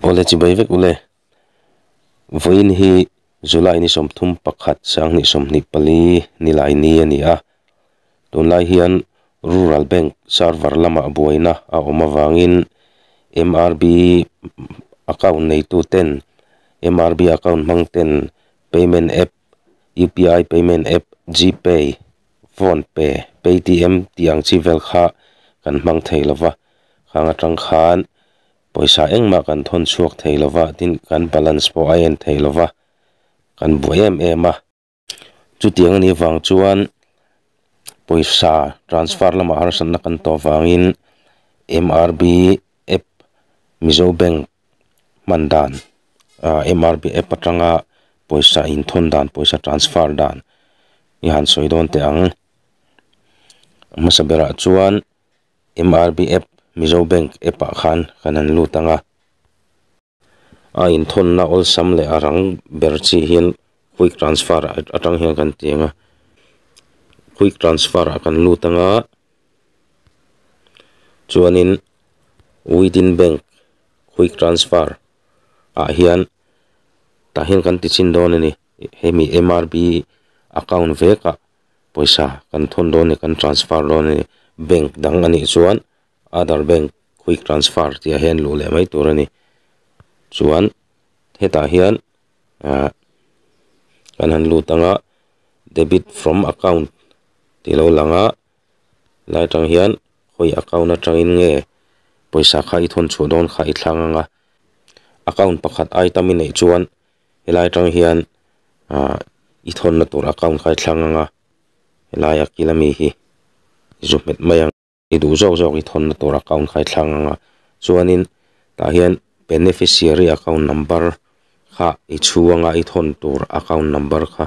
Awle chi bai vek ule. Vawiin hi July ni sawmthum pakhat sang hnih sawmhnih pali ni lai ni a ni a, tunlai hian Rural Bank server lama buaina a awm avangin MRB account neituten, MRB account hmangten payment app UPI payment app, GPay, Phonepe, Paytm tih ang chi vel kha kan hmang thei lo va, khang atang khan pawisa engmah kan thawn chhuak thei lo va, tin kan balance pawh a en thei lo va, kan buai em em a. Chuti ang ni vang chuan pawisa transfer lamah harsatna kan tawh vangin MRB app mizo bank hman dan ah mrp app atanga pawisa inthawn dan pawisa transfer dan i han sawi dawn teh ang a hmasa berah chuan mrp app mizo bank app ah khan kan han lut ang a. A inthawnna awlsam leh a rang ber chi hian quick transfer atang hian kan ti ang a, quick transfer ah kan lut anga chuanin within bank quick transfer ah hian tah hian kan ti chin dawn a ni hemi MRB account vekah pawisa kan thawn dawn a ni kan transfer dawn a ni bank dang anih chuan-- Aadhar Bank Quick Transfer tih ah hian luh leh mai tur a ni. Chuan hetah hian ah kan han lut ang a Debit from Account tih lo lang a, lai atang hian hawi account atangin nge pawisa kha i thawn chhuah dawn kha i thlang ang a, account pakhat ai tam i neih chuan helai atang hian ah i thawn na tur account kha i thlang ang a, helai a kil ami hi i zu hmet mai ang. i duh zawk zawk hi thawnna tur account kha i thlang ang a, chuanin tah hian beneficiary account number kha i chhu ang a, i thawn tur account number kha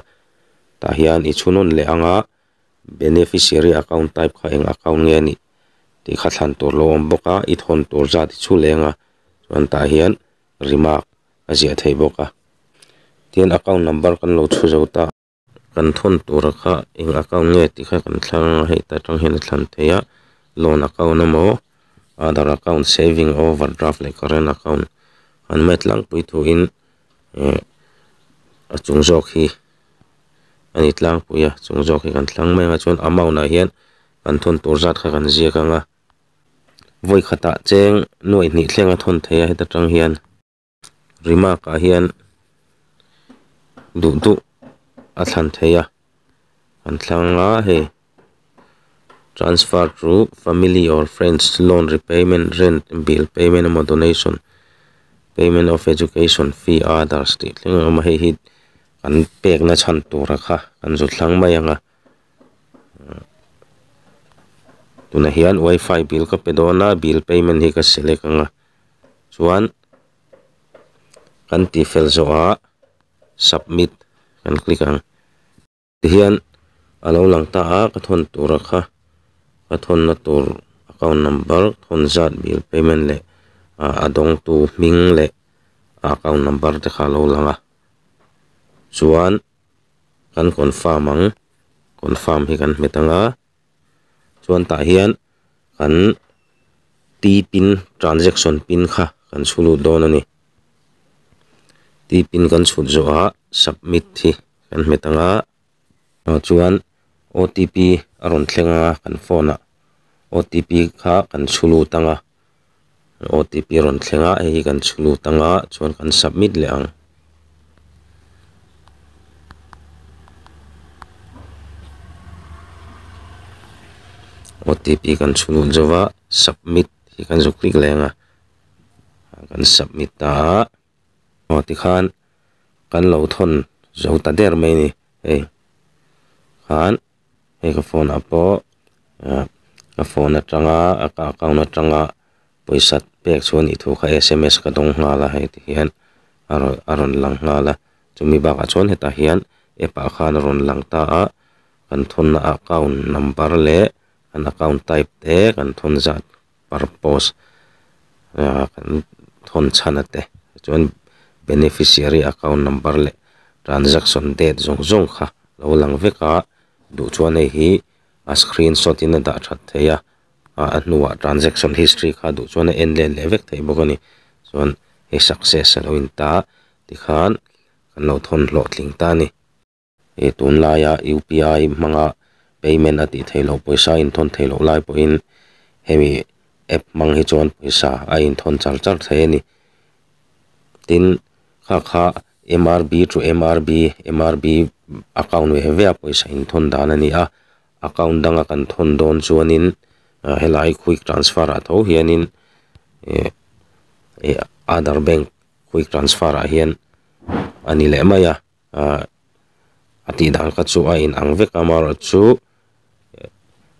tah hian i chhu nawn leh ang a, beneficiary account type kha eng account nge a nih tih kha thlan tur lo awm bawk a, i thawn tur zat i chhu leng a, chuan tah hian remark a ziah theih bawk a, tin account number kan lo chhu zo ta. Kan thawn tura kha eng account nge tih kha kan thlang anga hei ta tang hian a thlan thei a, loan account a maw, aadhar account, saving, overdraft leh current account han met tlangpui thuin eh a chung zawk hi a ni tlangpui a, chung zawk hi kan thlang mai anga chuan amount ah hian kan thawn tur zat kha kan ziak anga vawi khatah cheng nuaih hnih thleng a thawn thei a heta tang hian. remark-ah hian duh duh a thlan thei a, an thlang la hei, transfer to family or friends, loan repayment, rent bill payment emaw donation, payment of education fee, others tih thleng ang emaw hei hi kan pekna chhan tura kha kan zut thlang mai ang a, tunah hian wifi bill ka pe dawn a, bill payment hi ka select ang a. chuan kan tihfel zawh a submit kan click ang tihian alo lang ta a ka thawn tura kha ka thawn na tur account number thawn zat bil payment leh a dawng tu hming leh a account number te kha alo lang a chuan kan confirm ang confirm hi kan hmet anga. chuan tah hian kan t pin transaction pin kha kan chhu lut dawn a ni t pin kan chhut zawh a submit hi kan hmet ang a chuan otp a rawn thleng a kan phone ah otp kha kan chhu lut ang a. otp a rawn thleng a hei hi kan chhuk lut anga chuan kan submit leh ang. Otp kan chhuk lut zauh a submit hi kan zuk hlik leh ang a, kan submit ta a aw tikhan kan lo thawn zauh ta der mai a ni hei khan. hei ka phone ah pawh ah ka phone atanga ka account atanga pawisa pek chu a nih thu kha sms ka dawng nghal a hei ti hian a rawn a rawn lang nghal a chumi bakah chuan hetah hian app ah khan a rawn lang ta a kan thawnna account number leh an account type te kan thawn zat-- purpose ah kan thawn chhan ate chuan beneficiary account number leh transaction date zawng zawng kha lo lang vek a duh chuan hei hi a screen shot in a dah that theih a ah a hnua transaction history kha duh chuan a en len leh vek theih bawk a ni chuan hei success a lo in ta tikhan kan lo thawn hlawhtling ta a ni. Hei tunlaia UPI hmanga payment a tih theihloh pawisa inthawn theihloh lai pawhin hemi app hmang hi chuan pawisa a inthawn char char thlai a ni. Tin, khakha MRB to MRB, MRB account ve ve a pawisa inthawn dan a ni a. Account danga kan thawn dawn chuanin helai quick transfer ah tho hianin other bank quick transfer ah hian a ni leh mai a. ah a tih dan kha chu a inang vek a amarawhchu chu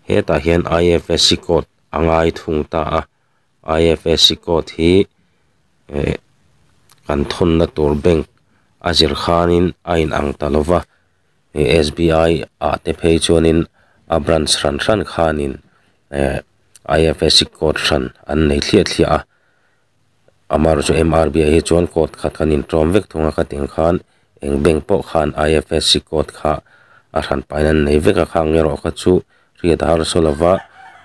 hetah hian ifsc code a ngai thung ta a ifsc code hi eh kan thawnna tur bank a zir khanin a inang ta lova eh sbi ah te phei chuanin a branch hran hran khanin eh ifsc code hran an nei thliah thliah a. Amaherawh chu MRBI hi chuan code khat kan in tlawm vek thung a ka tiang khan eng bank pawh khan IFSC code kha a hran paina an nei vek a kha ang erawh ka chu hriat a har saw lo va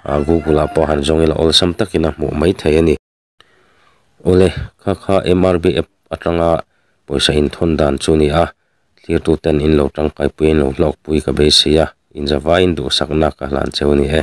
ah Google ah pawh han zawng ila awlsam takin a hmuh mai thei a ni. Awle kha kha MRBI app atanga pawisa in thawn dan chu a ni a thlirtu ten in lo tangkai pui a in lo hlawk pui ka beisei a in zavaiin duhsakna ka hlan cheu a ni e.